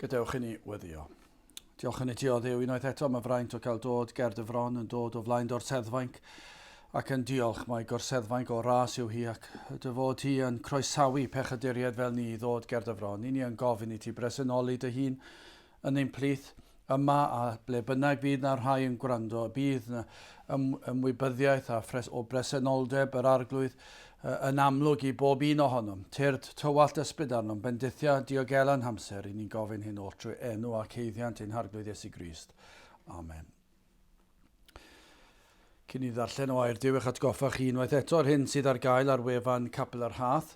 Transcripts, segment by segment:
Gadewch i ni weddio. Diolch yn ti o ddew unwaith eto, mae fraint o cael dod ger dy fron yn dod o flaen dorseddfainc ac yn diolch mae gorseddfainc o ras yw hi ac dy fod ti yn croesawu pechaduriaid fel ni i ddod ger dy fron. Ni ni yn gofyn i ti bresenoli dy hun yn ein plith, yma a ble bynnag fydd 'na rhai yn gwrando, y bydd 'na ymwybyddiaeth a phres o bresenoldeb yr Arglwydd yn amlwg i bob un ohonom. Tyrd tywallt ysbryd arnom, bendithia, diogela yn hamser, ry'n ni'n gofyn hyn oll trwy enw ac haeddiant ein Harglwydd Iesu Grist. Amen. Cyn i ddarllen o air Duw eich atgoffa chi unwaith eto o'r hyn sydd ar gael ar wefan Capel yr Hath.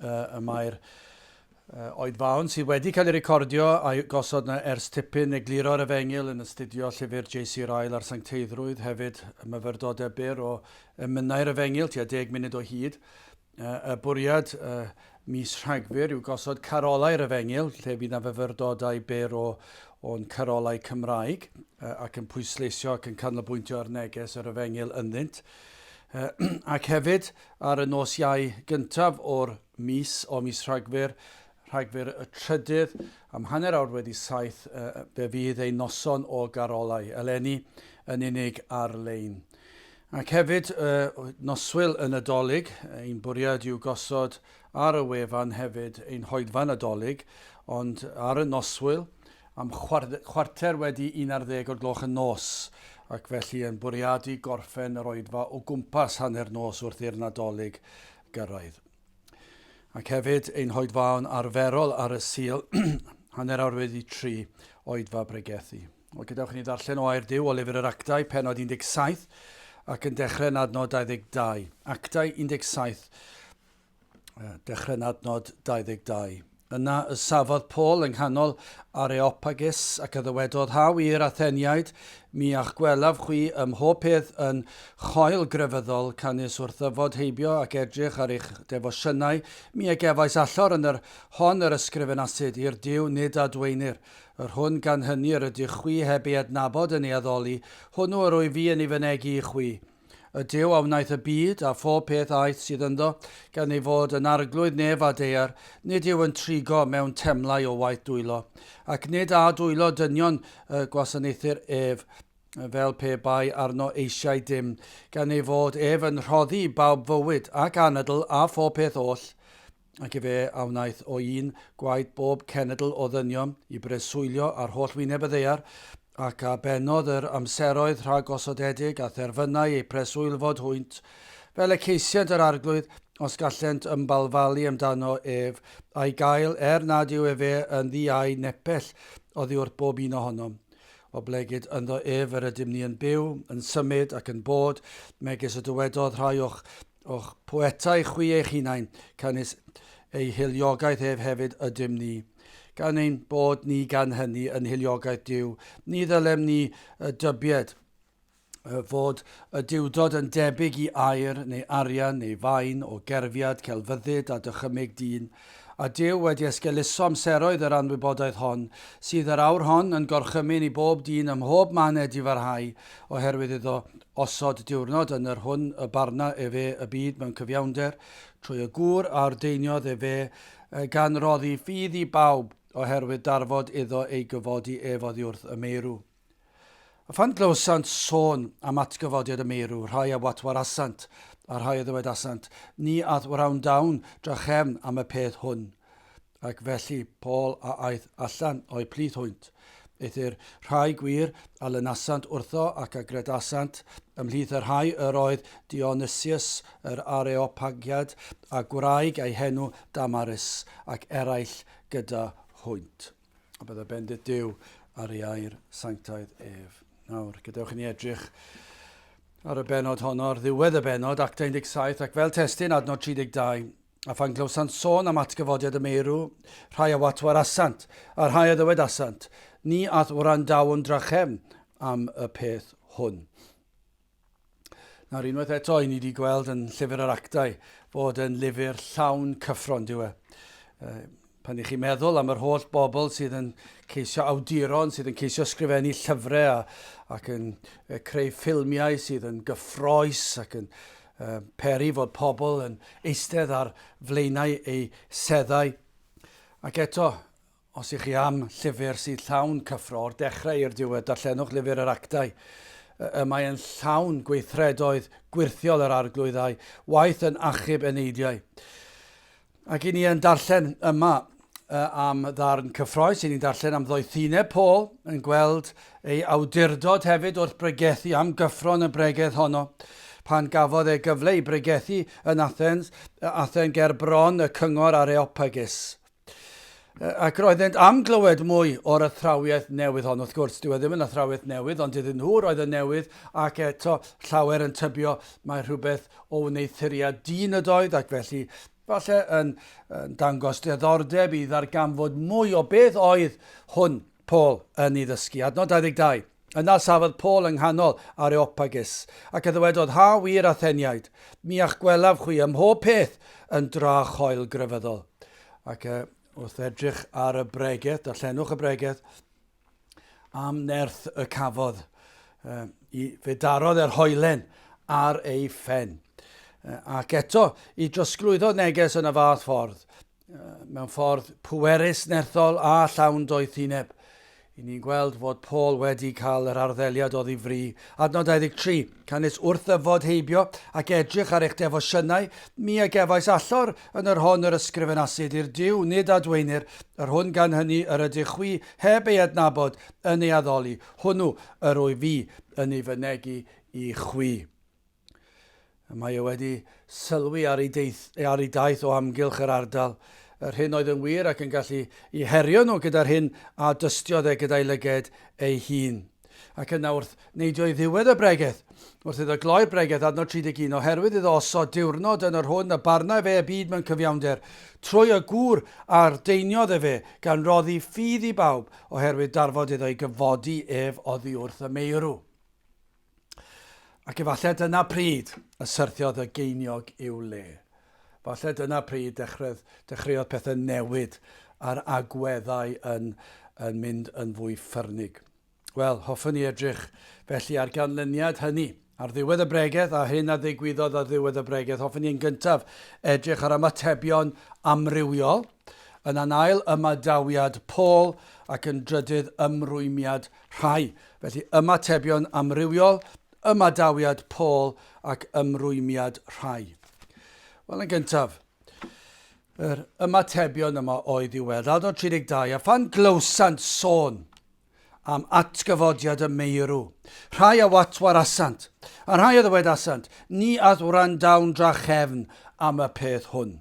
Uh, y mae'r uh, oed fawn sydd wedi cael ei recordio a'i gosod na ers tipyn egluro'r efengil yn astudio llyfr JC Ryle a'r Sancteiddrwydd, hefyd y myfyrdodau byr o emynau'r efengil, tua deg munud o hyd. Y bwriad ym mis Rhagfyr yw gosod carolau ar y Fengil lle fydd 'na fyfyrdodau byr o'n carolau Cymraeg ac yn pwysleisio ac yn canolbwyntio ar neges yr Efengyl ynddynt. Ac hefyd ar y nos Iau gyntaf o'r mis, o mis Rhagfyr, Rhagfyr y trydydd, am hanner awr wedi saith fe fydd ein noson o garolau, eleni yn unig ar-lein. Ac hefyd, noswyl y Nadolig, ein bwriad yw gosod ar y wefan hefyd ein hoedfa Nadolig, ond ar y noswyl, am chwarter wedi 11 o'r gloch y nos, ac felly yn bwriadu gorffen yr oedfa o gwmpas hanner nos wrth i'r Nadolig gyrraedd. Ac hefyd, ein hoedfaon arferol ar y Sul, hanner awr wedi tri, oedfa bregethu. Wel, gadewch i ni ddarllen o Air Duw o lyfr yr Actau, penod 17, ac yn dechrau yn adnod 22. Actau 17, dechrau yn adnod 22. Yna y safodd Paul yng nghanol Areopagus ac a ddywedodd haw i'r Atheniaid, mi a'ch gwelaf chwi ym mhob peth yn choel grefyddol, canys wrth yfod heibio ac edrych ar eich defosiynau, mi a gefais allor yn yr hon yr ysgrifenasid i'r Duw nid a dweinir. Yr hwn gan hyny yr ydych chwi heb ei adnabod yn ei addoli, hwnnw yr wyf fi yn ei fynegi i chwi. Y Duw a wnaeth y byd, a phob peth aeth sydd ynddo, gan ei fod yn arglwydd nef a daear, nid yw yn trigo mewn temlau o waith dwylo, ac nid â dwylo dynion y gwasanaethir ef, fel pe bai arno eisiau dim, gan ei fod ef yn rhoddi i bawb fywyd, ac anadl, a phob peth oll. ac efe a wnaeth o un gwaed bob cenedl o ddynion i breswylio ar holl wyneb y ddaear, ac a bennodd yr amseroedd rhagosodedig a therfynau eu preswylfod hwynt, fel y ceisient yr Arglwydd, os gallent ymbalfalu amdano ef, a'i gael, er nad yw efe yn ddi a'u nepell oddiwrth bob un ohonom. Oblegid ynddo ef yr ydym ni yn byw, yn symud, ac yn bod, megis y dywedodd rhai o'ch O'ch poetau chwi eich hunain, canys eu hyliogaeth ef hefyd ydym ni. Gan ein bod ni gan hynny yn hyliogaeth Duw, ni ddylem ni y dybied fod y Duwdod yn debyg i aer, neu arian, neu fain, o gerfiad, celfyddyd, a dychymyg dyn, a Duw wedi esgeuluso amseroedd yr anwybodaeth hon, sydd yr awr hon yn gorchymyn i bob dyn ym mhob man ed i farhau, oherwydd iddo osod diwrnod yn yr hwn y barna efe y byd mewn cyfiawnder, trwy y gŵr a ordeiniodd efe, yy, gan roddi ffydd i bawb, oherwydd darfod iddo ei gyfodi ef oddiwrth y meirw. A phan glywsant sôn am atgyfodiad y meirw, rhai a watwarasant, a rhai a ddywedasant, Ni ath wrandaw'n drachefn am y peth hwn. Ac felly Paul a aeth allan o'i plith hwynt. Eithr rhai gwir a lynasant wrtho ac a gredasant, ymhlith y rhai yr oedd Dionysius yr Areopagiad, a gwraig a'i henw Damaris, ac eraill gyda hwynt. A byddai bendith Duw ar ei air sanctaidd ef. Nawr, gadewch i ni edrych ar y benod honno, ar ddiwedd y benod, Act 17, ac fel testyn adnod 32, a phan glywsant sôn am atgyfodiad y meirw, rhai a watwar asant, a rhai a ddywed asant, ni ath wrandaw'n drachefn am y peth hwn. Nawr, unwaith eto, i ni wedi gweld yn Llyfr yr Actau bod yn lyfr llawn cyffron, diw e. Pan i chi'n meddwl am yr holl bobl sydd yn ceisio awduron, sydd yn ceisio sgrifennu llyfrau a, ac yn creu ffilmiau sydd yn gyffroes ac yn uh, peri fod pobl yn eistedd ar flaenau eu seddau. Ac eto, Os ych chi am llyfr sydd llawn cyffro o'r dechrau i'r diwedd, darllenwch lyfr yr Actau. Y mae yn llawn gweithredoedd gwyrthiol yr Arglwydd a'i waith yn achub eneidiau. Ac i ni yn darllen yma am ddarn cyffroes, i ni'n darllen am ddoethineb Paul, yn gweld ei awdurdod hefyd wrth bregethu am gyffro yn y bregeth honno pan gafodd e gyfle i bregethu yn Athens, Athen ger bron y cyngor Areopagus. Ac roeddent am glywed mwy o'r athrawiaeth newydd hon. Wrth gwrs, dyw e ddim yn athrawiaeth newydd, ond iddyn nhw roedd yn newydd, ac eto llawer yn tybio mae rhywbeth o wneuthuriad dyn ydoedd, ac felly falle yn, yn dangos diddordeb i ddarganfod mwy o beth oedd hwn. Paul, yn ei ddysgu. Adnod 22. Yna safodd Paul yng nghanol Areopagus, ac a ddywedodd, Ha wir, Atheniaid, mi a'ch gwelaf chwi ym mhob peth yn dra choel grefyddol. Ac e, wrth edrych ar y bregeth, darllenwch y bregeth, am nerth y cafodd, e, i fe darodd e'r hoelen ar ei phen. E, ac eto, i drosglwyddo neges yn y fath ffordd, mewn ffordd pwerus, nerthol a llawn doethineb. I ni'n gweld fod Paul wedi cael yr arddeliad oddi fri. Adnod 23, canys wrth ddyfod heibio ac edrych ar eich defosiynau, mi a gefais allor yn yr hon yr ysgrifenasid i'r Duw, nid adweinir, yr hwn gan hynny yr ydych chwi heb ei adnabod yn ei addoli, hwnnw yr wy fi yn ei fynegi i chwi. Mae e wedi sylwi ar ei, deith, ar ei daith o amgylch yr ardal, yr hyn oedd yn wir ac yn gallu i herio nhw gyda'r hyn a dystiodd e gyda'i lyged ei hun. Ac yna wrth neidio i ddiwedd y bregeth, wrth iddo gloi'r bregeth, adnod 31, oherwydd iddo osod diwrnod yn yr hwn y barna fe y byd mewn cyfiawnder, trwy y gŵr a'r deiniodd efe, gan roddi ffydd i bawb, oherwydd darfod iddo ei gyfodi ef oddi wrth y meirw. Ac efallai dyna pryd y syrthiodd y geiniog i'w le. Falle dyna pryd dechreuodd, dechreuodd pethau newid a'r agweddau yn, yn mynd yn fwy ffyrnig. Wel, hoffwn ni edrych felly ar ganlyniad hynny. Ar ddiwedd y bregeth a hyn a ddigwyddodd ar ddiwedd y bregeth, hoffwn ni yn gyntaf edrych ar ymatebion amrywiol, yn anail ymadawiad Paul ac yn drydydd ymrwymiad Rhai, felly, ymatebion amrywiol, ymadawiad Paul ac ymrwymiad rhai. Wel, yn gyntaf, yr ymatebion yma oedd i'w weld, adnod 32, a phan glywsant sôn am atgyfodiad y meirw, rhai a watwarasant, a rhai a ddywedasant, ni ath wrandawn drachefn am y peth hwn.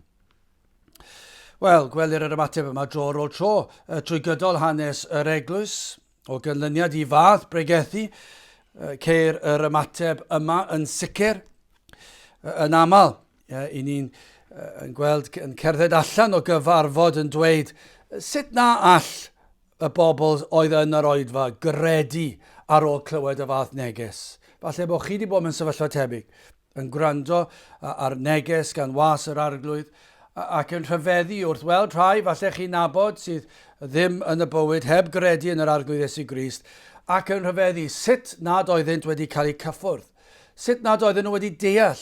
Wel, gwelir yr ymateb yma dro ar ôl tro uh, trwy gydol hanes yr eglwys, o gynlyniad i fath bregethu, uh, ceir yr ymateb yma yn sicr uh, yn aml. Uh, I ni'n uh, gweld yn cerdded allan o gyfarfod yn dweud sut na all y bobl oedd yn yr oedfa gredu ar ôl clywed y fath neges. Falle bod chi wedi bod mewn sefyllfa tebyg. yn gwrando ar neges gan Was yr Arglwydd, ac yn rhyfeddu wrth weld rhai falle chi'n nabod sydd ddim yn y bywyd heb gredu yn yr Arglwydd Iesu Grist, ac yn rhyfeddu sut nad oeddynt wedi cael eu cyffwrdd, sut nad oedden nhw wedi deall,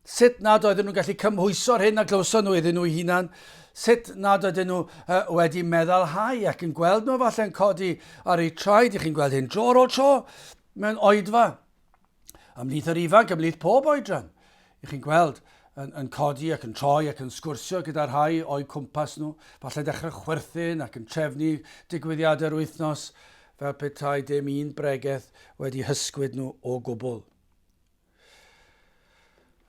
sut nad oedden nhw'n gallu cymhwyso'r hyn a glywson nhw iddyn nhw'u hunan, sut nad oedden nhw uh, wedi meddalhau ac yn gweld nhw falle'n codi ar eu traed, i chi'n gweld hyn dro ar ôl tro, mewn oedfa, ymhlith yr ifanc, ymhlith pob oedran. Ych chi'n gweld, yn, yn codi ac yn troi ac yn sgwrsio gyda rhai o'i cwmpas nhw, falle dechrau chwerthin ac yn trefnu digwyddiadau'r wythnos fel petai dim un bregeth wedi hysgwyd nhw o gwbl.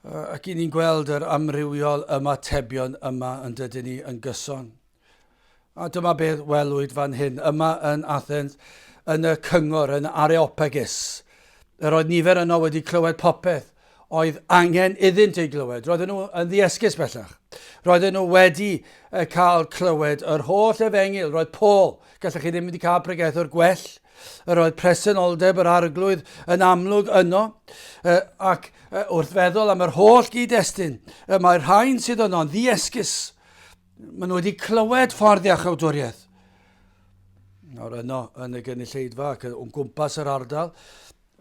Ac i ni'n gweld yr amrywiol ymatebion yma yn dydyn ni yn gyson. A dyma beth welwyd fan hyn, yma yn Athens, yn y cyngor, yn Areopagus. Yr oedd nifer yno wedi clywed popeth oedd angen iddynt ei glywed. Roedden nhw yn ddiesgus bellach. Roedden nhw wedi cael clywed yr holl efengil. Roedd Paul, gallech chi ddim wedi cael pregethwr gwell Yr oedd presenoldeb yr Arglwydd yn amlwg yno, ac wrth feddwl am yr holl gyd-destun, mae'r rhain sydd yno'n ddiesgus. Maen nhw wedi clywed ffordd iach awdwriaeth. Nawr yno, yn y gynulleidfa ac yn gwmpas yr ardal,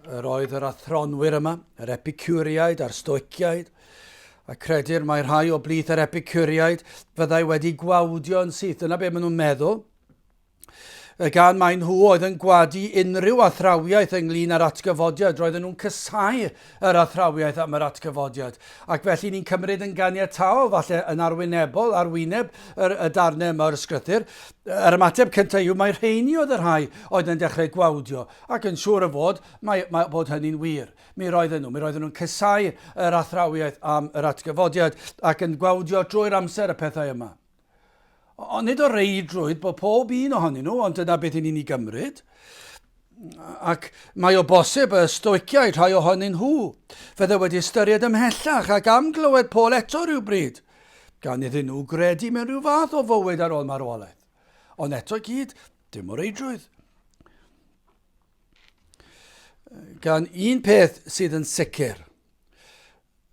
yr oedd yr athronwyr yma, yr epicuriaid a'r stoiciaid, a credir mae rhai o blith yr epicuriaid fyddai wedi gwawdio yn syth. Dyna beth maen nhw'n meddwl. Gan mai nhw oedd yn gwadu unrhyw athrawiaeth ynglyn â'r atgyfodiad, roedden nhw'n casáu yr athrawiaeth am yr atgyfodiad. Ac felly ni'n cymryd yn ganiataol, falle yn arwynebol, ar wyneb yr, y darnau yma o'r sgrythyr, yr ymateb cyntaf yw mae rheini oedd y rhai oedd yn dechrau gwawdio, ac yn siŵr o fod mae, mae bod hynny'n wir. Mi roedden nhw, mi roedden nhw'n casáu yr athrawiaeth am yr atgyfodiad ac yn gwawdio drwy'r amser y pethau yma. Ond nid o reidrwydd bod pob un ohonyn nhw, ond dyna beth i ni'n ei gymryd. Ac mae o bosib y Stoiciaid, rhai ohonyn nhw, fydde wedi ystyried ymhellach ac am glywed Paul eto rhywbryd, gan iddyn nhw gredu mewn rhyw fath o fywyd ar ôl marwolaeth. Ond eto i gyd, dim o reidrwydd. Gan un peth sydd yn sicr,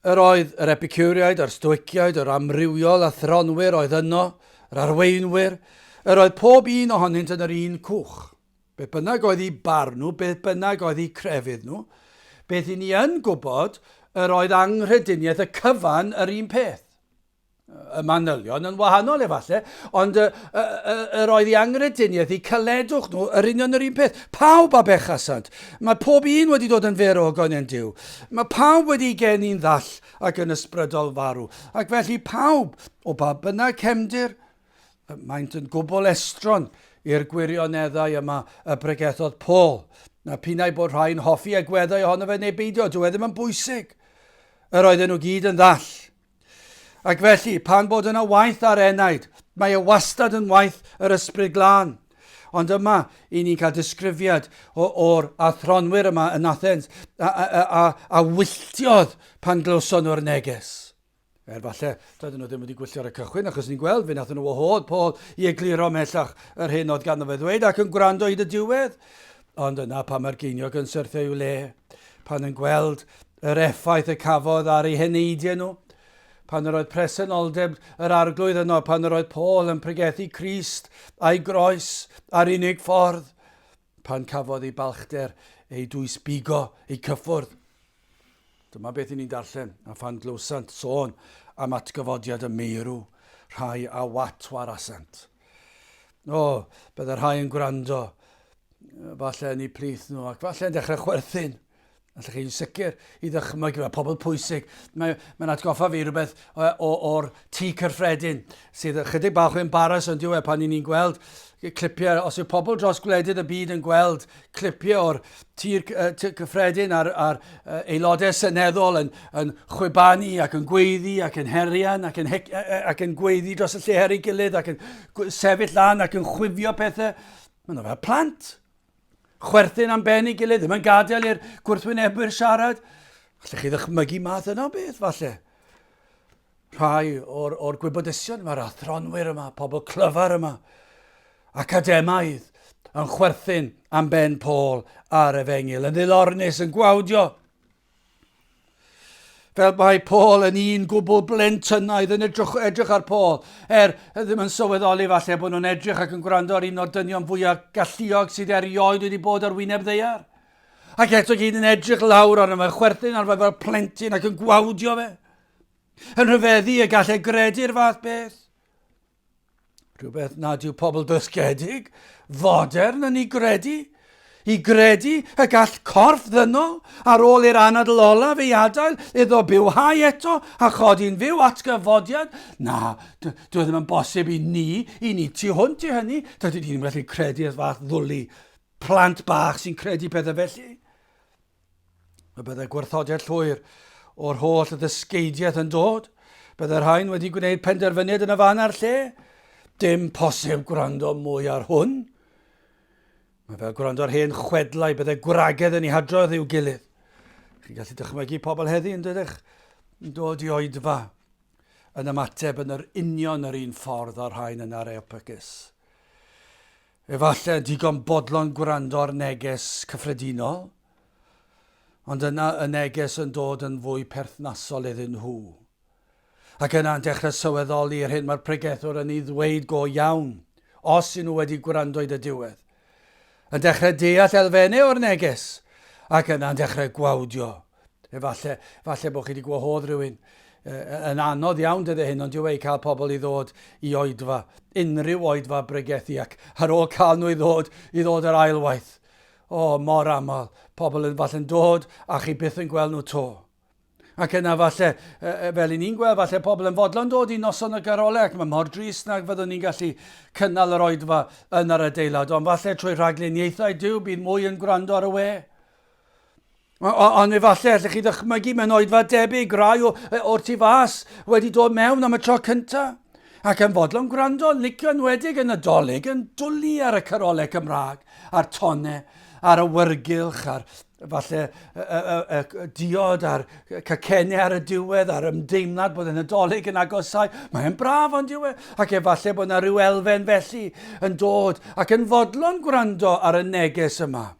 Yr oedd yr Epicureaid a'r Stoiciaid, yr amrywiol athronwyr oedd yno, yr arweinwyr, yr oedd pob un ohonynt yn yr un cwch. Beth bynnag oedd i barn nhw, beth bynnag oedd i crefydd nhw, beth i ni yn gwybod, yr oedd anghrediniaeth y cyfan yr un peth. y manylion yn wahanol efallai, ond y, y, y, yr oedd i angrediniaeth, i caledwch nhw, yr union yr un peth. Pawb a bechasant. Mae pob un wedi dod yn fer o gonen Dyw. Mae pawb wedi geni'n ddall ac yn ysbrydol farw. Ac felly pawb, o ba bynnag cefndir, maent yn gwbl estron i'r gwirioneddau yma y bregethodd Paul. Na pinnau bod rhai'n hoffi agweddau ohono fe neu beidio, dyw e ddim yn bwysig. Yr oedden nhw gyd yn ddall, Ac felly, pan bod yna waith ar enaid, mae e wastad yn waith yr Ysbryd Glân. Ond yma, i ni'n cael disgrifiad o'r athronwyr yma yn Athens a, a, a, a, a wylltiodd pan glywson nhw'r neges. Er falle, doedden nhw ddim wedi gwylltio'r y cychwyn, achos ni'n gweld fe nath nhw wahodd Paul i egluro mellach yr hyn oedd ganddo fe ddweud ac yn gwrando hyd y diwedd. Ond dyna pam mae'r geiniog yn syrthio i'w le, pan yn gweld yr effaith y cafodd ar ei heneidiau nhw, pan yr oedd presenoldeb yr arglwydd yno, pan yr oedd Paul yn pregethu Christ a'i groes a'r unig ffordd, pan cafodd ei balchder ei dwysbigo, ei cyffwrdd, Dyma beth i ni'n darllen, a phan glywsant sôn am atgyfodiad y meirw, rhai a wat warasant. O, bydde rhai yn gwrando, falle yn ei plith nhw, ac falle yn dechrau chwerthin. Allech chi'n sicr i ddychmygu, mae pobl pwysig, mae'n mae atgoffa fi rhywbeth o'r tŷ cyffredin, sydd ychydig bach o embaras yn diwe pan ni'n ni'n gweld clipiau, os yw pobl dros gwledydd y byd yn gweld clipiau o'r tir cyffredin a'r, ar aelodau seneddol yn, yn chwibanu ac yn gweiddi ac yn herian ac yn, hec, ac yn gweiddi dros y lle her ei gilydd ac yn sefyll lan ac yn chwifio pethau. Mae'n fel plant. Chwerthin am ben ei gilydd, ddim yn gadael i'r gwrthwynebwyr siarad. Allech chi ddychmygu math yna o beth, falle? Rhai o'r, o'r gwybodesion, mae'r athronwyr yma, pobl clyfar yma, academaidd, yn chwerthin am ben Paul ar efengil, yn ddilornus, yn gwawdio. Fel mae Paul yn un gwbl blentynnaidd yn edrych, edrych ar Paul, er ddim yn sylweddoli falle bod nhw'n edrych ac yn gwrando ar un o'r dynion fwyaf galluog sydd erioed wedi bod ar wyneb ddeiar. Ac eto gyd yn edrych lawr arno fe, chwerthin ar fe fel plentyn ac yn gwawdio fe. Yn rhyfeddu y gallai gredu'r fath beth. Rhywbeth nad yw pobl dysgedig, fodern yn ei gredu. I gredu y gall corff ddynol ar ôl i'r anadl olaf ei adael iddo bywhau eto a chodi'n fyw atgyfodiad. Na, dwi e ddim yn bosib i ni, i ni tu hwnt i hynny. Dydyn ni ddim yn gallu credu'r fath ddwlu plant bach sy'n credu pethau felly. Y byddai gwrthodiad llwyr o'r holl ddysgeidiaeth yn dod. Byddai rhain wedi gwneud penderfyniad yn y fan a'r lle. Dim posib gwrando mwy ar hwn. Mae fel gwrando ar hen chwedlau, byddai gwragedd yn ei hadrodd i'w gilydd. Chi'n gallu dychmygu pobl heddi yn dydych yn dod i oedfa yn ymateb yn yr union yr un ffordd o'r rhain yn areopagys. Efallai digon bodlon gwrando ar neges cyffredinol, ond yna y neges yn dod yn fwy perthnasol iddyn nhw. Ac yna yn dechrau sylweddoli yr hyn mae'r pregethwr yn ei ddweud go iawn, os y'n nhw wedi gwrando i dy diwedd. Yn dechrau deall elfennau o'r neges, ac yna yn dechrau gwawdio Efalle, falle bod chi wedi gwahodd rhywun. Uh, yn anodd iawn dydde hyn, ond dyw e i cael pobl i ddod i oedfa, unrhyw oedfa bregethu, ac ar ôl cael nhw i ddod, i ddod yr ail waith. O, oh, mor aml, pobl yn falle'n dod a chi byth yn gweld nhw to. Ac yna falle, fel i ni'n gweld, falle pobl yn fodlon dod i noson y garolau ac mae mor dris nag fyddwn ni'n gallu cynnal yr oedfa yn yr adeilad, ond falle trwy rhagluniaethau Dyw bydd mwy yn gwrando ar y we. Ond efallai allech chi ddychmygu mewn oedfa debyg rai o, o'r tu fas wedi dod mewn am y tro cyntaf ac yn fodlon gwrando, licio enwedig yn y dolyg yn dwlu ar y carolau Cymraeg, a'r tonne, a'r awyrgylch, a'r falle y, y, y, y diod a'r cacennau ar y diwedd a'r ymdeimlad bod yn y dolyg yn agosau. Mae'n braf ond diwedd, e, ac efallai bod yna rhyw elfen felly yn dod ac yn fodlon gwrando ar y neges yma.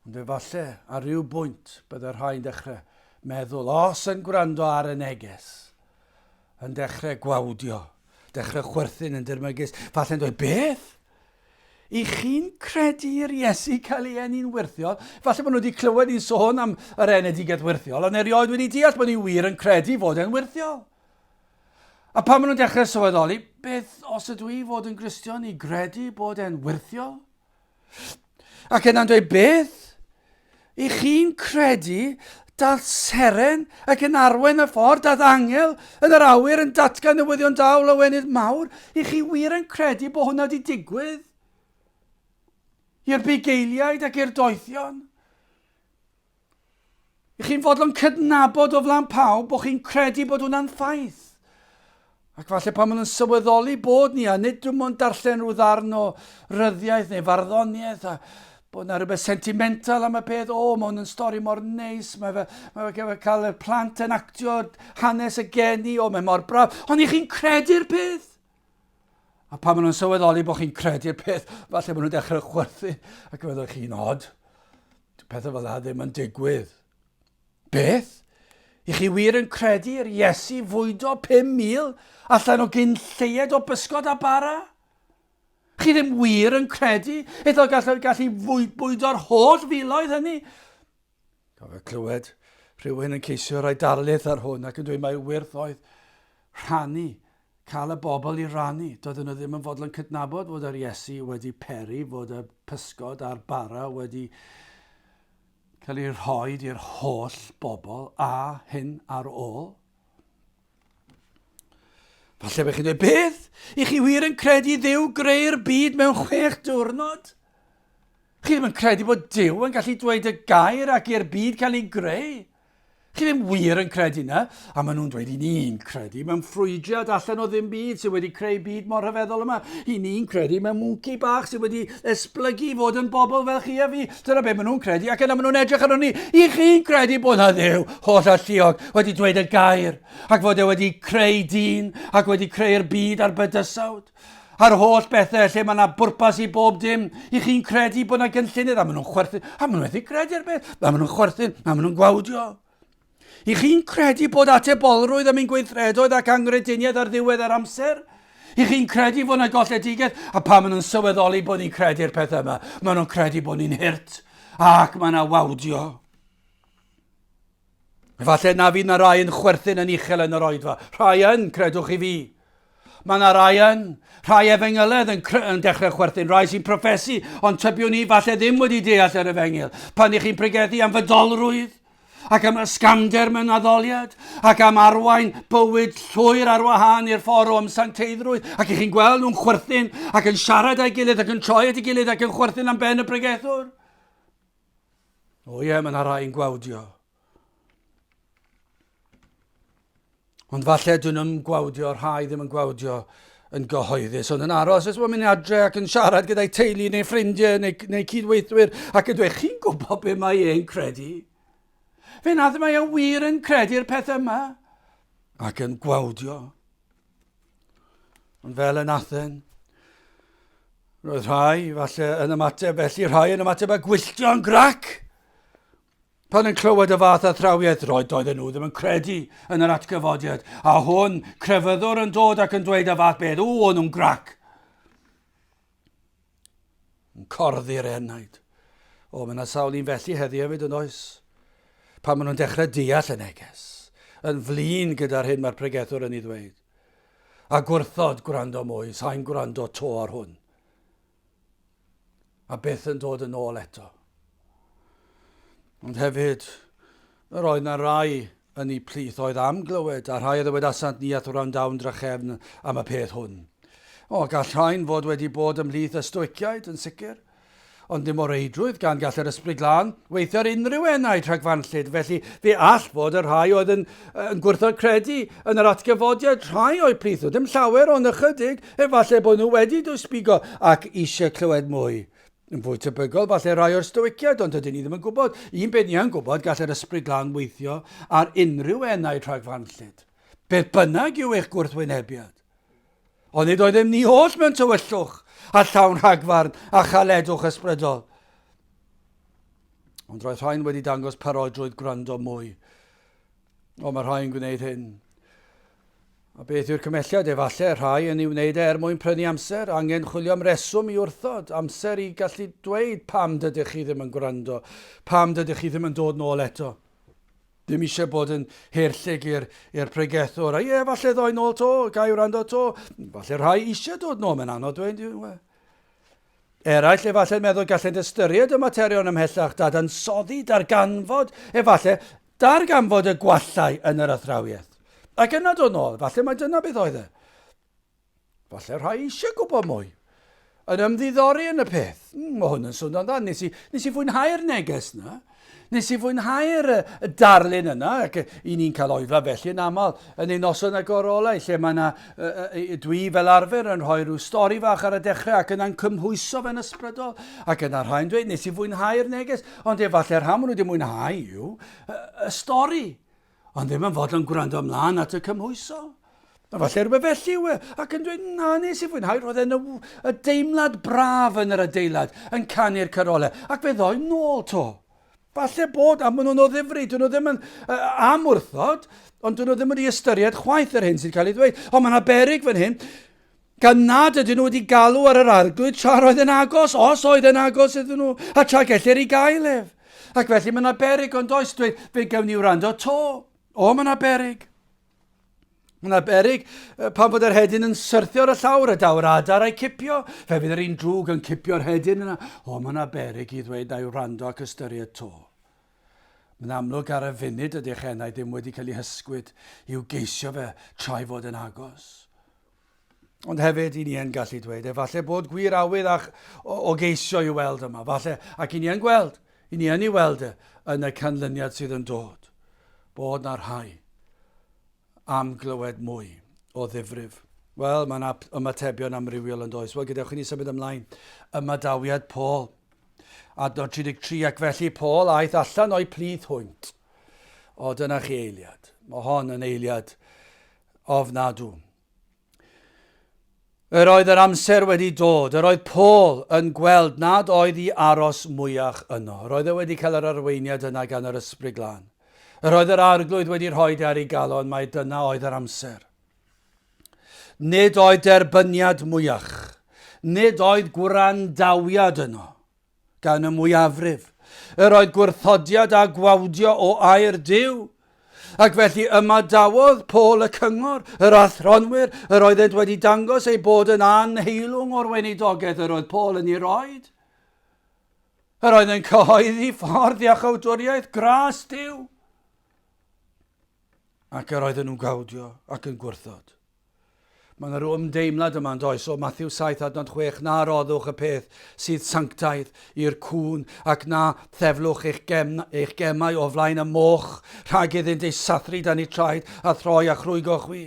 Ond efallai, ar ryw bwynt, byddai rhai'n dechrau meddwl, os yn gwrando ar y neges, yn dechrau gwawdio, dechrau chwerthin yn dirmygus, falle'n dweud, beth? I chi'n credu i'r Iesu cael ei eni'n wirthiol? Falle bod nhw wedi clywed i'n sôn am yr enedigaeth wirthiol, ond erioed wedi deall bod ni wir yn credu fod e'n wirthiol. A pan maen nhw'n dechrau sylweddoli, beth os ydw i fod yn Gristion i gredu bod e'n wirthiol? Ac yna'n dweud beth? I chi'n credu dath seren ac yn arwain y ffordd dath angel yn yr awyr yn datgan newyddion da o lawenydd mawr? I chi wir yn credu bod hwnna wedi digwydd? I'r bugeiliaid ac i'r doethion? I chi'n fodlon cydnabod o flan pawb bod chi'n credu bod hwnna'n ffaith. Ac falle pan maen nhw'n sylweddoli bod ni, a nid dim ond darllen rhyw ddarn o ryddiaeth neu farddoniaeth, a bod yna rhywbeth sentimental am y peth, o, mae hwn yn stori mor neis, mae fe, mae fe, mae fe cael y plant yn actio hanes y geni, o, mae mor braf, ond i chi'n credu'r peth. A pan maen nhw'n sylweddoli bod chi'n credu'r peth, falle maen nhw'n dechrau chwerthu ac yn meddwl chi'n od. Pethau fel yna ddim yn digwydd. Beth? I chi wir yn credu i'r Iesu fwydo 5,000 allan o gyn lleied o bysgod a bara? Chi ddim wir yn credu iddo gallu, gallu fwydo'r holl filoedd hynny? Cofio clywed rhywun yn ceisio rhoi darlith ar hwn ac yn dweud mai wyrth oedd rhannu, cael y bobl i rannu. Doedden nhw ddim yn fodlon yn cydnabod fod yr Iesu wedi peri, fod y pysgod a'r bara wedi cael ei rhoi i'r holl bobl a hyn ar ôl. Falle bych chi'n dweud, beth? I chi wir yn credu ddew greu'r byd mewn chwech diwrnod? Chi ddim yn credu bod Duw yn gallu dweud y gair ac i'r byd cael ei greu? Chi ddim wir yn credu na, a maen nhw'n dweud i ni'n credu mewn ffrwydiad allan o ddim byd sydd wedi creu byd mor rhyfeddol yma. I ni'n credu mewn mwnci bach sydd wedi esblygu i fod yn bobl fel chi a fi. Dyna beth maen nhw'n credu ac yna maen nhw'n edrych arno ni. I chi'n credu bod na ddew holl alluog wedi dweud y gair ac fod e wedi creu dyn ac wedi creu'r byd a'r bydysawd? A'r holl bethau lle mae yna bwrpas i bob dim, i chi'n credu bod yna gynllunydd, a maen nhw'n chwerthu, a maen nhw'n methu credu ar beth, a maen nhw'n chwerthu, a maen nhw'n gwawdio. I chi'n credu bod atebolrwydd am ein gweithredoedd ac angrediniaeth ar ddiwedd yr amser? I chi'n credu fod yna golledigaeth, a pan maen nhw'n sylweddoli bod ni'n credu'r pethau yma, maen nhw'n credu bod ni'n hirt, ac mae yna wawdio. Efallai na fydd na rai yn chwerthin yn uchel yn yr oedfa. Rhai yn, credwch i fi. Mae yna rai yn, rhai efengyledd yn, yn dechrau chwerthin, rhai sy'n profesu, ond tybiwn ni falle ddim wedi deall yr efengyl. Pan ych chi'n pregethu am fydolrwydd, ac am ysgamder mewn addoliad, ac am arwain bywyd llwyr ar wahân i'r ffordd o ymsanteiddrwydd, ac ych chi'n gweld nhw'n chwerthin ac yn siarad â'i gilydd ac yn troi at ei gilydd ac yn chwerthin am ben y bregethwr. O ie, mae yna rhai'n gwawdio. Ond falle dyn nhw'n gwawdio, rhai ddim yn gwawdio yn gyhoeddus, ond yn aros, os mae'n mynd adre ac yn siarad gyda'i teulu neu ffrindiau neu, neu cydweithwyr ac yn dweud, chi'n gwybod beth mae e'n credu? Fe nad mae e wir yn credu'r peth yma ac yn gwawdio. Ond fel yn Athen, roedd rhai, falle, yn ymateb, felly rhai yn ymateb a gwylltio'n grac. Pan yn clywed y fath a thrawiaeth, roedd doedden nhw ddim yn credu yn yr atgyfodiad, a hwn crefyddwr yn dod ac yn dweud y fath beth, o, o'n nhw'n grac. Yn corddi'r enaid. O, mae yna sawl un felly heddi hefyd yn oes? Pan maen nhw'n dechrau deall y neges, yn flin gyda'r hyn mae'r pregethwr yn ei ddweud. A gwrthod gwrando mwy, sa'n gwrando to ar hwn. A byth yn dod yn ôl eto. Ond hefyd, yr oedd na rai yn eu plith oedd am glywed, a rhai a ddywedasant ni at wrandawn drachefn am y peth hwn. O, gall rhain fod wedi bod ymhlith y stoiciaid, yn sicr. Ond ddim o reidrwydd gan gall yr ysbryd glân weithio ar unrhyw enaid rhagfanllyd, felly fe all fod y rhai oedd yn, yn gwrthod credu yn yr atgyfodiad rhai o'i plith nhw, ddim llawer ond ychydig, efallai bod nhw wedi dwysbigo ac eisiau clywed mwy. Yn fwy tebygol, falle rai o'r Stoiciaid, ond dydyn ni ddim yn gwybod. Un peth ni yn gwybod, gall yr Ysbryd Glân weithio ar unrhyw enaid rhagfarnllyd, beth bynnag yw eich gwrthwynebiad. Ond nid oeddem ni oll mewn tywyllwch a llawn rhagfarn a chaledwch ysbrydol. Ond roedd rhain wedi dangos parodrwydd gwrando mwy O, mae rhai'n gwneud hyn. A beth yw'r cymhelliad? Efallai rhai yn ei wneud er mwyn prynu amser, angen chwilio am reswm i wrthod, amser i gallu dweud pam dydych chi ddim yn gwrando, pam dydych chi ddim yn dod nôl eto. Ddim eisiau bod yn herllyg i'r i'r pregethwr. A ie, falle ddoi nôl to, gai wrando to. Falle rhai eisiau dod nôl, mae'n anodd dweud. Eraill efallai'n meddwl gallent ystyried y materion ymhellach dadansoddi, darganfod, efallai, darganfod y gwallau yn yr athrawiaeth. Ac yna dod nôl, efallai mae dyna beth oedd e. Efallai rhai eisiau gwybod mwy. Yn ymddiddori yn y peth. Mm, mae hwn yn swnio'n dda. Nes i, nes i fwynhau'r neges na. Nes i fwynhau'r darlun yna, ac i ni'n cael oedfa felly yn aml yn ein noson agorolau, lle mae yna, dwi fel arfer yn rhoi rhyw stori fach ar y dechrau ac yna'n cymhwyso fe'n ysbrydol, ac yna rhai'n dweud nes i fwynhau'r neges, ond efallai rhan maen nhw wedi mwynhau yw y stori. Ond ddim yn fodlon gwrando ymlaen at y cymhwyso. Efallai rhywbeth felly yw e, ac yn dweud, na, nes i fwynhau, roedd e'n y, y deimlad braf yn yr adeilad, yn canu'r carolau, ac fe ddoi'n nôl to. Falle bod, a maen nhw'n o ddifri, dyn nhw ddim yn uh, am wrthod, ond dyn nhw ddim wedi ystyried chwaith yr hyn sydd cael ei ddweud. Ond mae yna berig fan hyn. Gan nad ydyn nhw wedi galw ar yr Arglwydd tra roedd yn agos, os oedd yn agos iddyn nhw, a tra gellir ei gael ef. Ac felly mae yna berig, ond oes dweud, fe gewn ni wrando to. O, mae yna berig. Mae yna berig pan fod yr hedyn yn syrthio ar y llawr a daw'r adar a'i cipio. Fe fydd yr un drwg yn cipio'r hedyn yna. O, mae yna berig i ddweud a'i wrando ac ystyried to. Mae'n amlwg ar y funud y dechenau ddim wedi cael ei hysgwyd i'w geisio fe trai fod yn agos. Ond hefyd, i ni yn gallu dweud, efallai bod gwir awydd a'ch o, o geisio i weld yma, falle, ac i ni yn gweld, i ni yn ei weld e, yn y canlyniad sydd yn dod, bod na rhai am glywed mwy o ddifrif. Wel, mae yna ymatebion amrywiol yn does. Wel, gyda chi ni symud ymlaen, ymadawiad Paul. Adnod 33, ac felly Paul aeth allan o'i plith hwynt. O, dyna chi eiliad. Mae hon yn eiliad ofnadw. Yr oedd yr amser wedi dod, yr oedd Paul yn gweld nad oedd i aros mwyach yno. Yr oedd e wedi cael yr arweiniad yna gan yr ysbryd glân. Yr oedd yr arglwydd wedi rhoi ar ei galon mae dyna oedd yr amser. Nid oedd derbyniad mwyach, nid oedd gwrandawiad yno. gan y mwyafrif, yr oedd gwrthodiad a gwawdio o air Duw, ac felly ymadawodd Paul y cyngor, yr athronwyr, yr oeddent wedi dangos eu bod yn anheilwng o'r weinidogaeth yr oedd Paul yn ei roed, yr oedd yn cyhoeddi ffordd iachawdwriaeth gras Duw, ac yr oedden nhw'n gawdio ac yn gwrthod. Mae yna ryw ymdeimlad yma, yn does, o Mathew 7 adnod 6, na roddwch y peth sydd sanctaidd i'r cŵn, ac na theflwch eich, gem, eich gemau o flaen y moch, rhag iddynt ei sathru dan ei traed a throi a chrwygo chwi.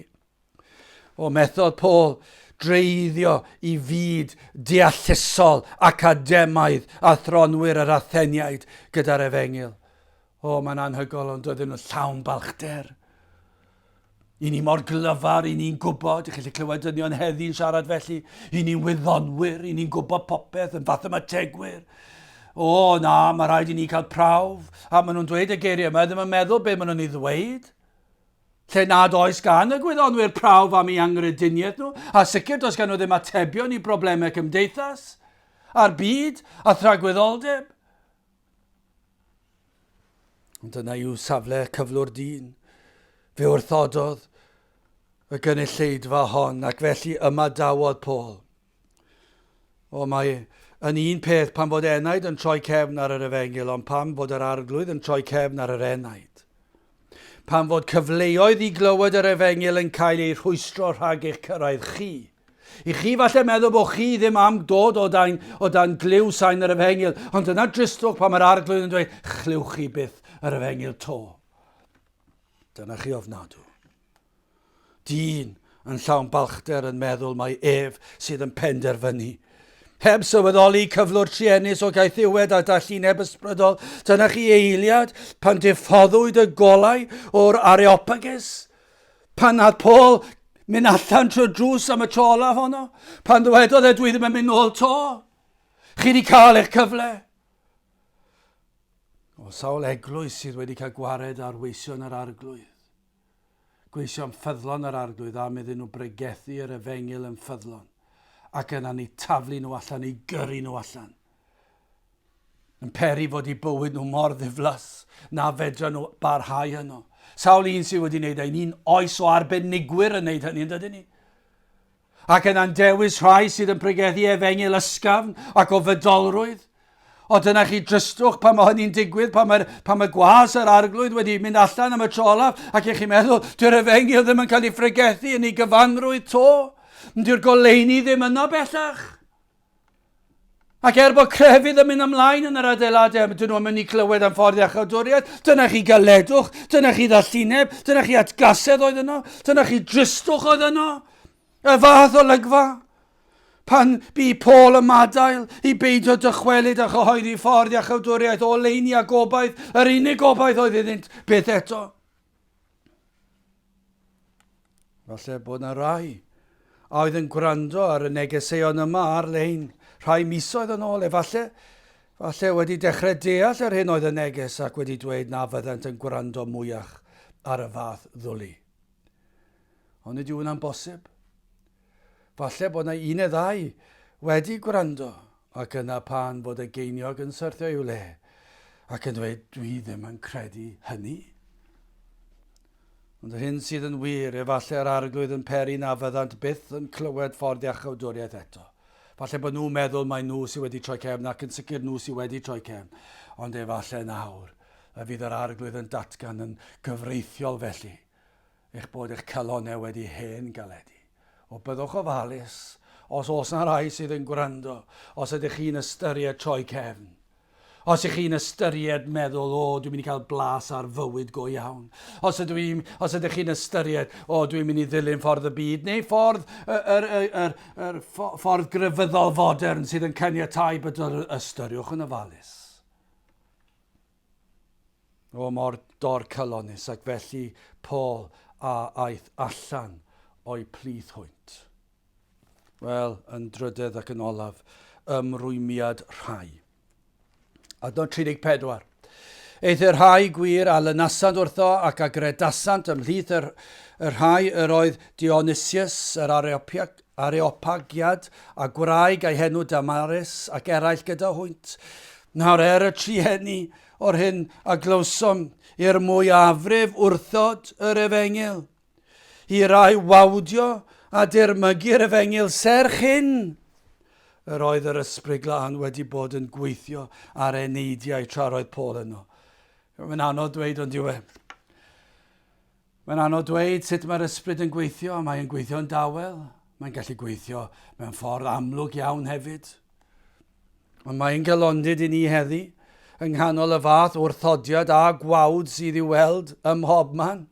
O methodd Paul dreiddio i fyd deallusol academaidd a thronwyr yr Atheniaid gyda'r efengyl. O, mae'n anhygoel, ond doedden nhw llawn balchder. I ni mor glyfar, i ni'n gwybod, i chi lle clywed dynion heddi'n siarad felly, i ni'n wyddonwyr, i ni'n gwybod popeth yn fath ymategwyr. O, na, mae rhaid i ni cael prawf, a maen nhw'n dweud y geiriau yma, ddim yn meddwl beth maen nhw'n ei ddweud. Lle nad oes gan y gwyddonwyr prawf am ei angryduniaeth nhw, a sicr does gan nhw ddim atebion i broblemau cymdeithas, a'r byd, a thragwyddoldeb. Ond dyna yw safle cyflwr dyn. Fe wrthododd y gynulleidfa hon ac felly ymadawodd Paul. O mae yn un peth pan fod enaid yn troi cefn ar yr efengyl ond pam fod yr arglwydd yn troi cefn ar yr enaid? Pam fod cyfleoedd i glywed yr efengyl yn cael eu rhwystro rhag eich cyrraedd chi? I chi falle meddwl bod chi ddim am dod o dan, o dan glyw sain yr efengyl, ond dyna dristwch pan mae'r arglwydd yn dweud, chlywch chi byth yr efengyl to. Dyna chi ofnadw. Dyn yn llawn balchder yn meddwl mai ef sydd yn penderfynu. Heb sylweddoli cyflwr trienus o gaethiwed a dallineb ysbrydol, dyna chi eiliad pan diffoddwyd y golau o'r areopagus. Pan nath Paul mynd allan trwy'r drws am y tro olaf honno, pan ddywedodd e, dwi ddim yn mynd nôl to. Chi wedi cael eich cyfle. O sawl eglwys sydd wedi cael gwared ar weision yr arglwydd. Gweisio am ffyddlon yr arglwydd am iddyn nhw bregethu yr efengil yn ffyddlon ac yna ni taflu nhw allan, i gyrru nhw allan. Yn peri fod eu bywyd nhw mor ddiflas na fedran nhw barhau yno. Sawl un sydd wedi wneud ein un oes o arbenigwyr yn wneud hynny, yn dydyn ni? Ac yna'n dewis rhai sydd yn pregethu efengyl ysgafn ac o fydolrwydd. O dyna chi drystwch pan mae hynny'n digwydd, pan mae, pan mae gwas yr arglwydd wedi mynd allan am y tro olaf, ac i chi meddwl, dyw'r efengyl ddim yn cael ei phregethu yn ei gyfanrwydd to. Dyw'r goleini ddim yno bellach. Ac er bod crefydd yn mynd ymlaen yn yr adeiladau, dyn nhw'n mynd i glywed am ffordd iachawdwriaeth, dyna chi galedwch, dyna chi ddallineb, dyna chi atgasedd oedd yno, dyna chi dristwch oedd yno. Y fath o lygfa. Pan bu Paul y madael i beidio dychwelyd a chyhoeddi ffordd iachawdwriaeth o leini a gobaith, yr unig gobaith oedd iddynt byth eto. Falle bod na rai a oedd yn gwrando ar y negeseuon yma ar-lein rhai misoedd yn ôl, efalle, falle wedi dechrau deall yr hyn oedd y neges ac wedi dweud na fyddant yn gwrando mwyach ar y fath ddwli. Ond nid yw hwnna'n bosib. Falle bod na un neu ddau wedi gwrando Ac yna pan fod y geiniog yn syrthio i'w le, ac yn dweud, Dwi ddim yn credu hynny. Ond yr hyn sydd yn wir, efallai yr arglwydd yn peri na fyddant byth yn clywed ffordd iachawdwriaeth eto. Falle bod nhw'n meddwl mae nhw sydd wedi troi cefn ac yn sicr nhw sydd wedi troi cefn, ond efallai nawr y fydd yr arglwydd yn datgan yn gyfreithiol felly. eich bod eich calonnau wedi hen galedu, o byddwch ofalus, os oes yna rai sydd yn gwrando, os ydych chi'n ystyried troi cefn, os ych chi'n ystyried meddwl, o, dwi'n mynd i cael blas ar fywyd go iawn, os, ydw i, os ydych chi'n ystyried, o, dwi'n mynd i ddilyn ffordd y byd, neu ffordd, yr, yr, yr, yr, yr ffordd grefyddol fodern sydd yn caniatau bydol, ystyriwch yn ofalus. O mor dor cylonus, ac felly Paul a aeth allan o'i plith hwynt. Wel, yn drydedd ac yn olaf, ymrwymiad rhai. Adnod 34. Eith y rhai gwir a lynasant wrtho ac agredasant ymhlith y, y rhai yr oedd Dionysius yr Areopiag, Areopagiad, a gwraig a'i henw Damaris, ac eraill gyda hwynt. Nawr er y trueni o'r hyn a glywsom i'r mwyafrif wrthod yr efengyl, i rai wawdio a dirmygu'r efengyl serch hyn, yr oedd yr Ysbryd Glân wedi bod yn gweithio ar eneidiau tra'r oedd Paul yno. Mae'n anodd dweud ond yw e. Mae'n anodd dweud sut mae'r ysbryd yn gweithio, mae'n gweithio'n dawel, mae'n gallu gweithio mewn ffordd amlwg iawn hefyd. Ond mae'n galondid i ni heddi, yng nghanol y fath wrthodiad a gwawd sydd i'w weld ym mhob man,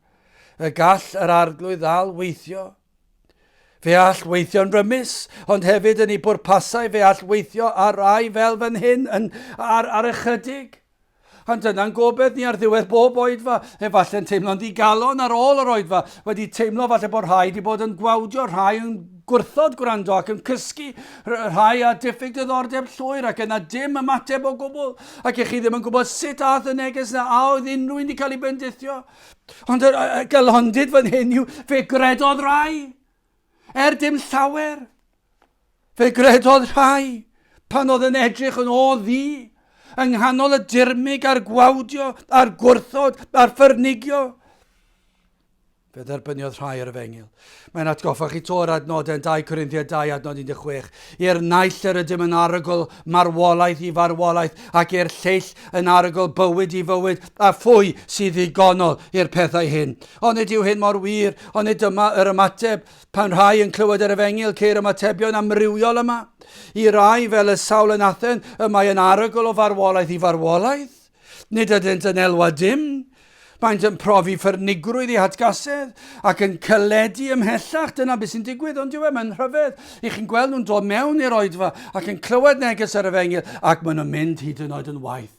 y gall yr arglwydd ddal weithio. Fe all weithio'n rymus, ond hefyd yn ei bwrpasau fe all weithio ar rai fel fan hyn yn, ar, ar ychydig. Ond dyna'n gobaith ni ar ddiwedd bob oedfa, efallai'n teimlo'n ddigalon ar ôl yr oedfa, wedi teimlo falle bod rhai wedi bod yn gwawdio, rhai yn gwrthod gwrando ac yn cysgu, rhai a diffyg diddordeb llwyr ac yna dim ymateb o gwbl, ac i chi ddim yn gwybod sut ath y neges na a oedd unrhyw un wedi cael ei bendithio. Ond y galondid fan hyn yw fe gredodd rai, er dim llawer, Fe gredodd rhai, pan oedd yn edrych yn ôl ddi, yng nghanol y dirmyg a'r gwawdio a'r gwrthod a'r ffyrnigio, Fe dderbyniodd rhai yr efengil. Mae'n atgoffa chi to yr adnodau yn 2 Corinthiad 2 adnod 16. I'r naill yr ydym yn arogl marwolaeth i farwolaeth ac i'r lleill yn arogl bywyd i fywyd a phwy sydd ddigonol i'r pethau hyn. Ond nid yw hyn mor wir, ond nid dyma yr ymateb. Pan rhai yn clywed yr efengyl ceir ymatebion amrywiol yma. I rai, fel y sawl yn Athen, y mae yn arogl o farwolaeth i farwolaeth. Nid ydynt yn elwa dim. Maent yn profi ffyrnigrwydd i hatgasedd ac yn cylledu ymhellach. Dyna beth sy'n digwydd, ond yw e, mae'n rhyfedd i chi'n gweld nhw'n dod mewn i'r oedfa ac yn clywed neges yr efengyl ac maen nhw'n mynd hyd yn oed yn waeth.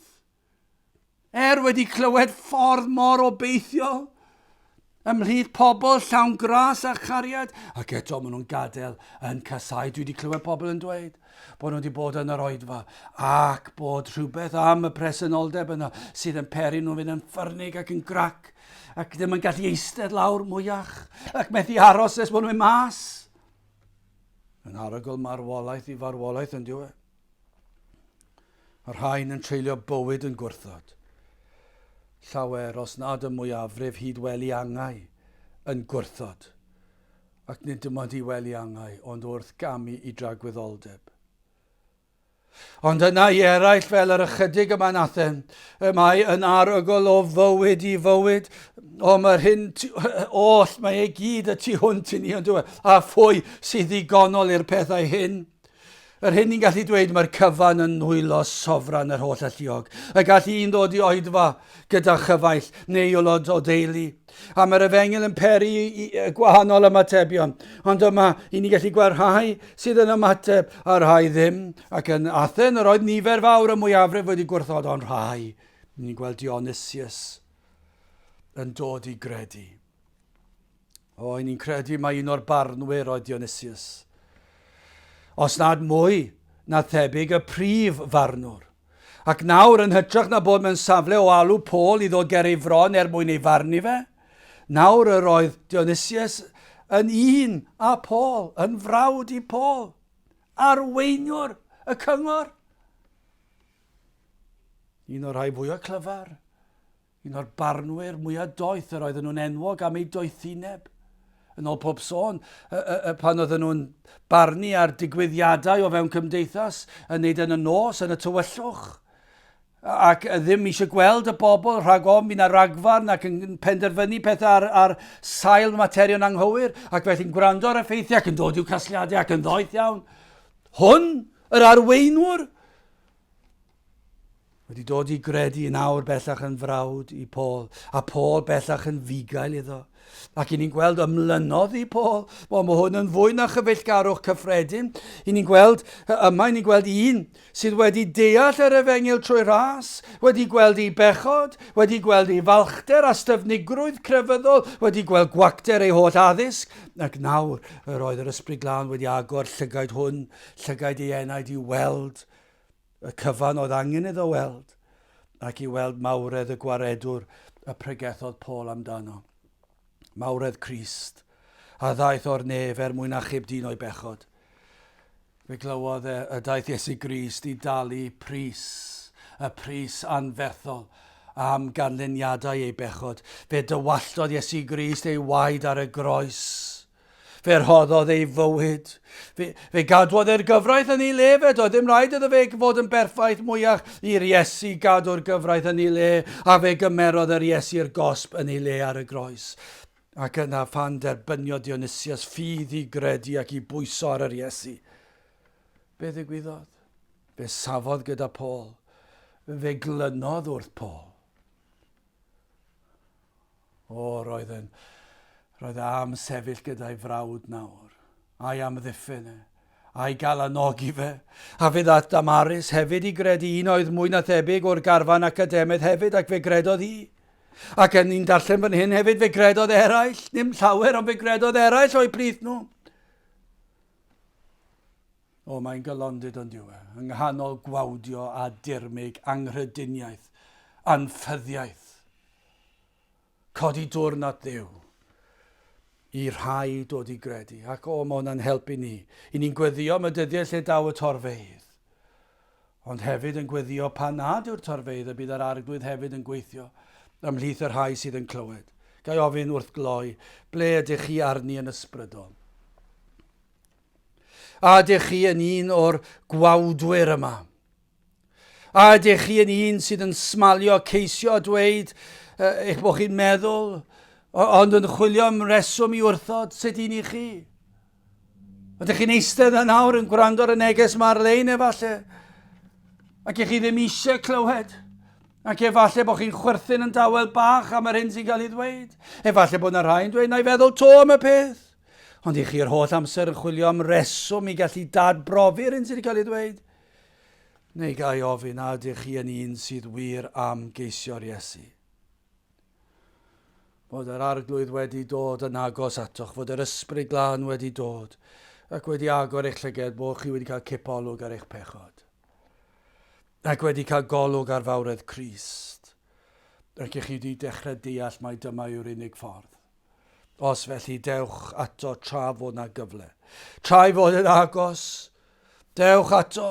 Er wedi clywed ffordd mor obeithiol ymhlith pobl llawn gras a chariad, ac eto maen nhw'n gadael yn casau. Dwi wedi clywed pobl yn dweud bod nhw wedi bod yn yr oedfa ac bod rhywbeth am y presenoldeb yna sydd yn peri nhw'n fynd yn ffyrnig ac yn grac ac ddim yn gallu eistedd lawr mwyach ac methu aros nes bod nhw'n mas. Yn arogl marwolaeth i farwolaeth yn diwy. Mae'r rhain yn treulio bywyd yn gwrthod. Llawer, os nad y mwyafrif hyd wely angau, yn gwrthod. Ac nid dim ond i wely angau, ond wrth gamu i dragwyddoldeb. Ond yna i eraill fel yr ychydig yma yn Athen, y mae yn arogl o fywyd i fywyd, o mae'r hyn oll, mae e gyd y tu hwnt i ni ond dweud, a phwy sydd ddigonol i'r pethau hyn? Yr hyn ni'n gallu dweud, mae'r cyfan yn nwylo sofran yr holl alluog. Y gall un ddod i oedfa gyda chyfaill neu aelod o deulu. A mae'r efengyl yn peri i gwahanol ymatebion. Ond yma, i ni gallu gweld rhai sydd yn ymateb a rhai ddim. Ac yn Athen, yr oedd nifer fawr y mwyafrif wedi gwrthod ond rhai. Ni'n gweld Dionysius yn dod i gredu. O, ni'n credu mai un o'r barnwyr oedd Dionysius. Os nad mwy, na thebyg y prif farnwr. Ac nawr, yn hytrach na bod mewn safle o alw Pôl i ddod ger ei fron er mwyn ei farnu fe, nawr yr oedd Dionysius yn un a Pôl, yn frawd i Pôl, arweiniwr y cyngor. Un o'r rhai fwyaf clyfar Un o'r barnwyr mwya doeth yr oedden nhw'n enwog am ei doethineb. Yn ôl pob sôn, y, y, y, pan oedden nhw'n barnu ar digwyddiadau o fewn cymdeithas, yn neud yn y nos, yn y tywyllwch, ac ddim eisiau gweld y bobl rhag ofn fydd na ragfarn ac yn penderfynu pethau ar, ar sail materion anghywir ac felly'n gwrando ar effeithiau ac yn dod i'w casliadau ac yn ddoeth iawn. Hwn, yr arweinwr, Wedi dod i gredu yn awr bellach yn frawd i Paul, a Paul bellach yn fugail iddo. Ac i ni'n gweld ymlynodd i Paul, wel mae hwn yn fwy na chyfeillgarwch cyffredin. I ni'n gweld, yma i ni'n gweld un sydd wedi deall yr efengil trwy ras, wedi gweld ei bechod, wedi gweld ei falchder a styfnigrwydd crefyddol, wedi gweld gwacter ei holl addysg, ac nawr yr oedd yr ysbryd glân wedi agor llygaid hwn, llygaid ei enaid i weld Y cyfan oedd angen iddo weld, ac i weld mawredd y Gwaredwr y pregethodd Paul amdano. Mawredd Crist, a ddaeth o'r nef er mwyn achub dyn o'i bechod. Fe glywodd e y daeth Iesu Grist i dalu pris, y pris anferthol, am ganlyniadau ei bechod. Fe dywalltodd Iesu Grist ei waed ar y groes. Fe rhoddodd ei fywyd. Fe, fe gadwodd e'r gyfraith yn ei le fe, doedd ddim rhaid iddo fe fod yn berffaith mwyach i'r Iesu gadw'r gyfraith yn ei le, a fe gymerodd yr Iesu'r gosb yn ei le ar y groes. Ac yna phan derbyniodd Dionysius ffydd i gredu ac i bwyso ar yr Iesu, be ddigwyddodd? Fe safodd gyda Paul, fe glynodd wrth Paul. O, roedd yn... Roedd e am sefyll gyda'i frawd nawr. Ai am ddiffyn e? Ai gael anogi fe? A fe ddaeth Damaris hefyd i gredu un oedd mwy na thebyg o'r garfan academaidd hefyd ac fe gredodd hi. Ac yn ni'n darllen fan hyn hefyd fe gredodd eraill, ddim llawer ond fe gredodd eraill o'u plith nhw. O, mae'n galondid ond yw e, yng nghanol gwawdio a dirmyg anghrediniaeth, anffyddiaeth. Codi dwrn at Dduw i rhai dod i gredu, ac o, mae hwnna'n helpu ni. I ni'n gweddio am y dyddiau lle daw y torfeydd, ond hefyd yn gweddio pan nad yw'r torfeydd y bydd yr Arglwydd hefyd yn gweithio ymhlith y rhai sydd yn clywed. Gai ofyn wrth gloi, ble ydych chi arni yn ysbrydol? A ydych chi yn un o'r gwawdwyr yma? A ydych chi yn un sydd yn smalio ceisio a dweud uh, eich bod chi'n meddwl, ond yn chwilio am reswm i wrthod sut i ni chi? Ydych chi'n eistedd yn awr yn gwrando ar y neges mae ar-lein efallai, ac ych chi ddim eisiau clywed, ac efallai bod chi'n chwerthin yn dawel bach am yr hyn sy'n cael ei ddweud. Efallai bod yna rhai'n dweud, na i feddwl to am y peth. Ond i chi yr holl amser yn chwilio am reswm i gallu dad-brofi'r hyn sydd wedi cael ei ddweud? Neu ga i ofyn a ydych chi yn un sydd wir am geisio'r Iesu? Fod yr Arglwydd wedi dod yn agos atoch, fod yr Ysbryd Glân wedi dod ac wedi agor eich llyged bod chi wedi cael cipolwg ar eich pechod ac wedi cael golwg ar fawredd Crist ac i chi wedi dechrau deall mai dyma yw'r unig ffordd. Os felly, dewch ato tra fod na gyfle. Tra'i fod yn agos, dewch ato.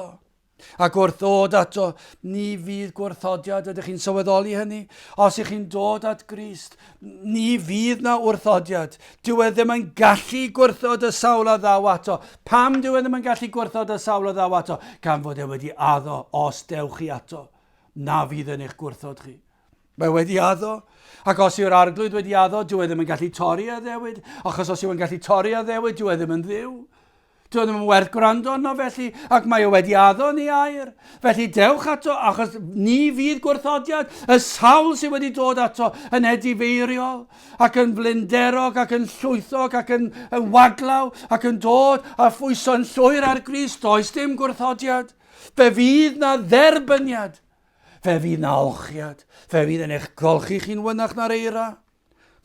Ac wrth ddod ato, ni fydd gwrthodiad, ydych chi'n sylweddoli hynny? Os ych chi'n dod at Grist, ni fydd na wrthodiad. Dyw e ddim yn gallu gwrthod y sawl a ddaw ato. Pam dyw e ddim yn gallu gwrthod y sawl a ddaw ato? Gan fod e wedi addo, os dewch chi ato, na fydd yn eich gwrthod chi. Mae wedi addo, ac os yw'r arglwydd wedi addo, dyw e ddim yn gallu torri a ddewyd, achos os yw e'n gallu torri a ddewyd, dyw e ddim yn ddiw. Dyw e ddim yn werth gwrando arno felly, ac mae o wedi addo ni air. Felly dewch ato, achos ni fydd gwrthodiad y sawl sydd wedi dod ato yn edifeiriol, ac yn flinderog, ac yn llwythog, ac yn, yn waglaw, ac yn dod a phwyso'n llwyr ar gris, does dim gwrthodiad. Fe fydd na dderbyniad. Fe fydd 'na olchiad, fe fydd yn eich golchi chi'n fynach na'r eira.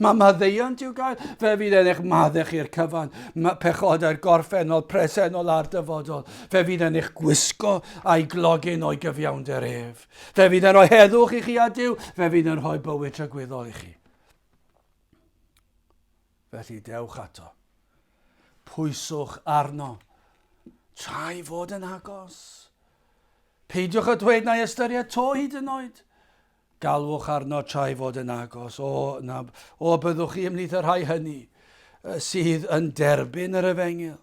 Mae maddeuant i'w gael, fe fydd yn eich maddau chi'r cyfan, mae pechodau'r gorffennol, presennol a'r dyfodol. Fe fydd yn eich gwisgo a'i glogyn o'i gyfiawnder ef. Fe fydd yn rhoi heddwch i chi a Dyw, fe fydd yn rhoi bywyd trygwyddol i chi. Felly dewch ato. Pwyswch arno, tra'i fod yn agos. Peidiwch â dweud na'i ystyried to hyd yn oed. Galwch arno tra'i fod yn agos, o, na, o byddwch chi ymhlith y rhai hynny sydd yn derbyn yr efengyl.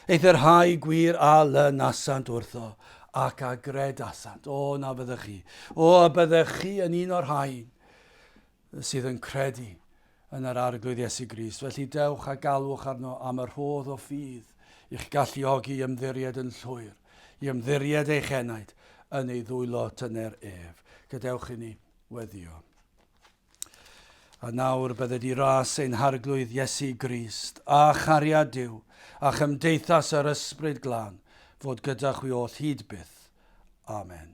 Aeth y rhai gwir a lynasant wrtho, ac a gredasant. O, na fyddech chi. O, a byddech chi yn un o'r rhain sydd yn credu yn yr Arglwydd Iesu Grist. Felly dewch a galwch arno am y rhodd o ffydd i'ch galluogi i ymddiried yn llwyr, i ymddiried eich enaid yn ei ddwylo tyner ef. Gadewch i ni weddio. A nawr bydde di ras ein Harglwydd Iesu Grist, a chariad Duw, a chymdeithas yr Ysbryd Glân, fod gyda chwi oll hyd byth. Amen.